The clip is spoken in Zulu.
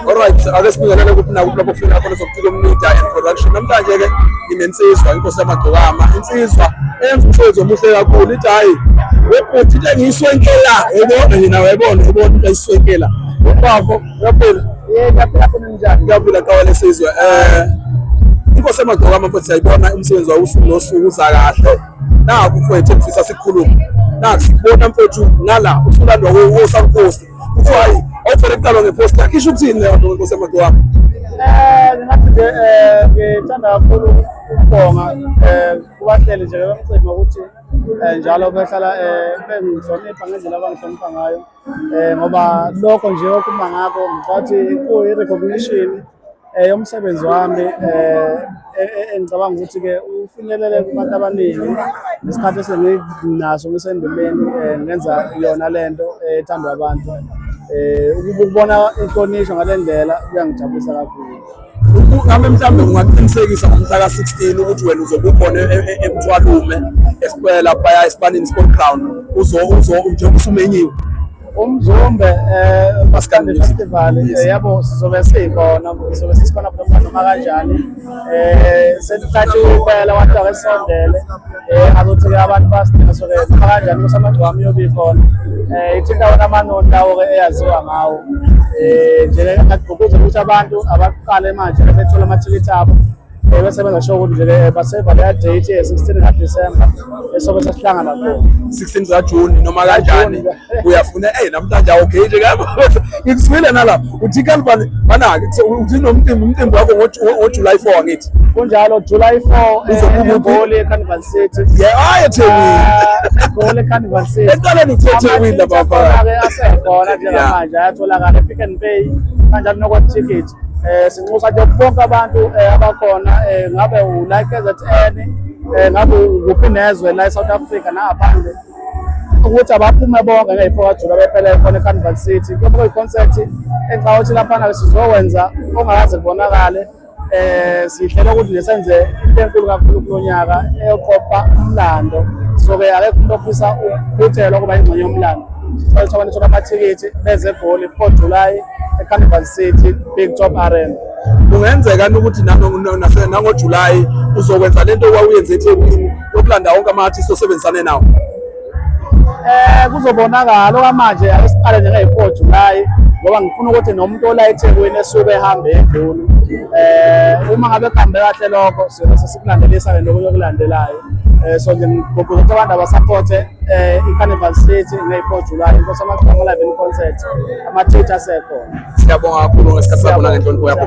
Alright, ake sibingelele kuphi nakuphi lapho kufika khona sokucika umnida and production. Namhlanje ke nginensizwa inkosi yamagcokama, insizwa eyenza umsebenzi omuhle kakhulu ithi hayi webhuti into engiyiswenkela yebona yena wayebona yebona into ayiswenkela ubafo uyaphila ngiyaphila kawa lesizwe um inkosi yamagcokama mfethu siyayibona umsebenzi wayo usuku nosuku uza kahle naku mfethu engifisa sikhulume naku sikubona mfethu ngala usulandwa wosankosi kuthiwa hayi awufanele kuqalwa ngeposta isho ukuthini leyo nto nkosi yamade wami um ngingathi nje um ngithanda kakhulu ukubonga um kubahleli nje bemcimbi ukuthi um njalo behlala um bengihlonipha ngendlela abangihlonipha ngayo um ngoba lokho nje okuma ngakho ngisathi kuyi-recognition Eh umsebenzi wami eh e, e, engicabanga ukuthi ke ufinyelele kubantu abaningi nesikhathi esenginaso ngisendimeni eh, ngenza yona lento eh, ethandwa abantu eh ukubona inhlonishwa ngalendlela kuyangijabulisa kakhulu ngabe mhlawumbe ungaqinisekisa ngomhlaka 16 ukuthi wena uzobe ukhona e, e, emthwalume esiphela phaya esibanini sport ground uzo uzo njengoba usumenyiwe umzumbe um masikande festival eh, yabo sizobe sikhona sizobe sisikhona noma noma kanjani um sesicathi ukwela abantu akesondele um azothi-ke abantu basidinga so-ke noma kanjani kusamagcwami yobi khona um ithinta wona amanoni lawo-ke eyaziwa ngawo um nje-ke ngagqugquza ukuthi abantu abaqale manje bethole amathikithi abo Eh, bese bengasho ukuthi nje eh, baseva leya date ye-16 kaDisemba esobe sesihlangana kuyo 16 kaJuni noma kanjani uyafuna hey namhlanje awugate okay, ngabo ngikuzwile nalapha uthi kanibani banake uthi nomcimbi umcimbi wakho ngoJuly 4 ngithi kunjalo July 4 eh, uzokubugole eCarnival City yeah hayi ah, eThekwini egole ah, eCarnival City eqaleni uthe eThekwini lapha asekhona njengamanje ayatholakala ePick n Pay kanjalo nokwa ticket Eh sinxusa nje bonke abantu eh, abakhona eh, ngabe u like KZN eh, ngabe ukuphi nezwe la eSouth Africa nangaphandle ukuthi abaphume bonke ngeyifo kajula bephele khona eCarnival City kube kuyiconcept engicabanga ukuthi laphana ke sizokwenza ongakaze kubonakale eh sihlela ukuthi nesenze into enkulu kakhulu kulo nyaka eyoqopha umlando soke akekho umuntu ofisa ukuphuthelwa kuba ingxenye yomlando sithola abantu amathikithi beze egoli 4 July eCarnival City Big Top Arena kungenzeka ukuthi nangoJulayi uzokwenza lento owawuyenze eThekwini yokulanda wonke ama-artist osebenzisane nawo eh kuzobonakala okwamanje ake siqale nje nge-four July ngoba ngifuna ukuthi nomuntu ola eThekwini esuke ehambe eGoli eh uma ngabe kuhambe kahle lokho siyobe sesikulandelisa le nto yokulandelayo Eh, so nje ngigqugquzela ukuthi abantu abasaphothe eh, i-carnival city ngey-four july inkosi amaqhamu live in concert ama-treat asekhona siyabonga kakhulu ngesikhathi sakho nangenhlonipho yakho